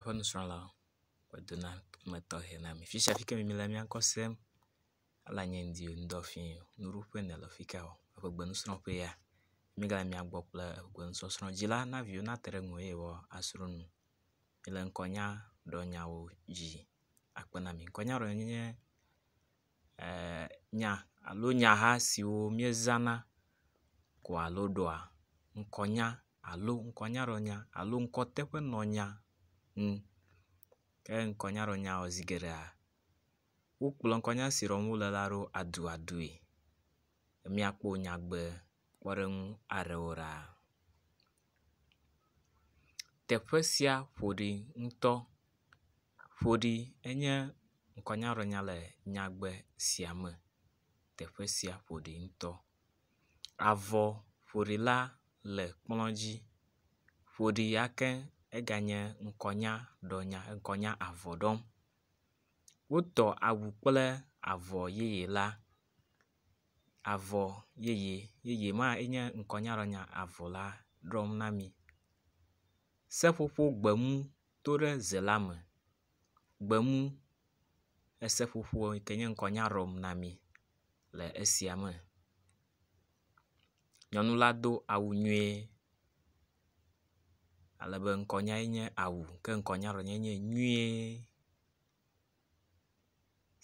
Woƒe nusrɔ̃la wodo na ame tɔxe na mi. Fi sia fi ke mi le mía ŋkɔ sem ela nye ŋdi o, ŋdɔ fii o. Nuɖuƒe nèle afi ka o? Eƒe gbenusrɔ̃ƒe ya. Mi gale mía gbɔ kple gbenusɔsrɔ̃ dzi la, na viwo nate ɖe ŋu eye woasrɔ̃ nu. Mi le ŋkɔnyadrɔnyawo dzi akpe na mi. Ŋkɔnyadrɔnya nye e nya alo nyaha siwo miezãna ko alo ɖɔa ŋkɔnya. alo ŋkɔnyaɖɔnya alo ŋkɔteƒenɔnya ŋu. Ke ŋkɔnyaɖɔnya zi geɖea wokplɔ ŋkɔnya si ɖɔm wo le la ɖo aduadui. Míakpɔ nyagbe kpɔɖeŋu aɖewo ɖa. Teƒe sia ƒo ɖi ŋutɔ. Ƒo ɖi enye ŋkɔnyaɖɔnya le nyagbe sia me. Teƒe sia ƒo ɖi ŋutɔ. Avɔ ƒoɖila le kplɔ dzi. Ƒoɖi ya ke eganye ŋkɔnya ɖɔnya ŋkɔnya avɔ ɖɔm. Wotɔ awu kple avɔ yeye la. Avɔ yeye yeye ma enye ŋkɔnyaɖɔnya avɔ la ɖɔm na mi. Seƒoƒo gbemu to ɖe ze la me. Gbemu eseƒoƒo yi ke nye ŋkɔnya ɖɔm na mi. le esia me. Nyɔnu la do awu nyuie ale be ŋkɔnyae nye awu ke ŋkɔnyaɖenyuie nye nyuie.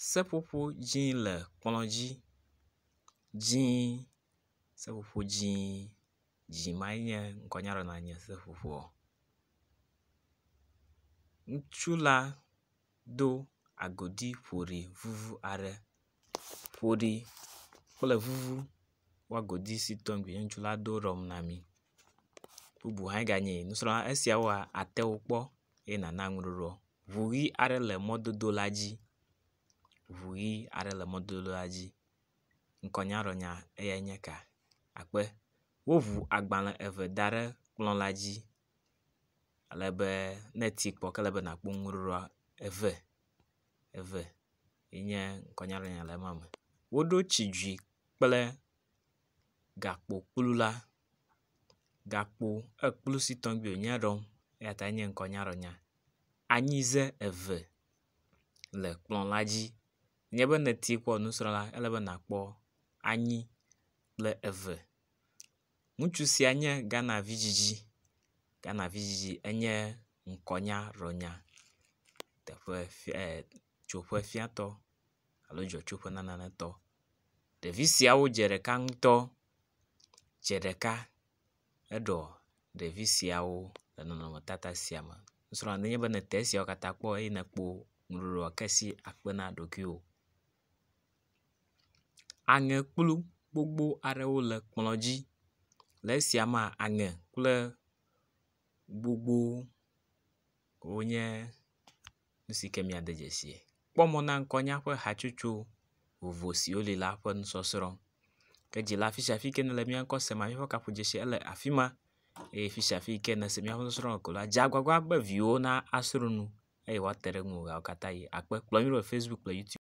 Seƒoƒo dzi le kplɔ dzi dzi seƒoƒo dzi dzi mae nye ŋkɔnyaɖenyua nye seƒoƒoa. Ŋutsu la. do agodi ƒoɖi vuvu aɖe. Ƒoɖi kple vuvu ƒe agodi si tɔ ŋgbi ne ŋutsu la do ɖɔm na mi. Bubu hã ganye nusrɔ̃la esiawoa àte wo kpɔ eye nàna ŋuɖoɖoa. Ŋu ʋi aɖe le mɔdodo la dzi. Ŋu ʋi aɖe le mɔdodo la dzi. Ŋkɔnyaɖɔnya eyae nye eka. Akpe. Woŋu agbalẽ eve da ɖe kplɔ̃ la dzi. ale be ne eti kpɔ ke ele be nakpɔ nu ŋu ɖoa eve eve ye nye ŋkɔnyalanya le ema me. Woɖo tsidzui kple gakpokplu la. Gakpo ekplu si tɔgbi wonye ɖɔm eya tae nye ŋkɔnyalanya. Anyize eve le kplɔ la dzi nye be ne eti kpɔ nusrɔ̃la ele be nakpɔ anyi kple eve Ŋutsu sia nye Ghana vidzidzi. Ghana vidzidzi enye ŋkɔnya ɖɔnya teƒe fia e tsoƒe fiatɔ alo dzɔtsoƒe nanetɔ. Ɖevi siawo dze ɖeka ŋutɔ. Dze ɖeka eɖɔ ɖevi siawo le nɔnɔmetata sia me. Nusrɔ̃lua nenye be nete esiawo katã kpɔ eye nèkpɔ nuɖuɖua ke si akpe na ɖokuiwò. Aŋe kplu gbogbo aɖewo le kplɔ dzi. Le esia mea aŋe kple gbogbo wonye nu si ke miade dzesie. Kpɔ mɔ na ŋkɔ na eƒe hatsotso vovo siwo li la ƒe nusɔsrɔ̃ ke dzi la fisiafi ke nele mía ŋkɔ sem míaƒe kaƒo dzesi ele afi ma eye fisiafi ke nese míaƒe nusɔsrɔ̃ ko la dze agbagba be viwo nasrɔ̃ nu. eye woate ɖe ŋuwò ɣeawo katã ɣi. Akpe kplɔ mí ɖo le Facebook kple YouTube.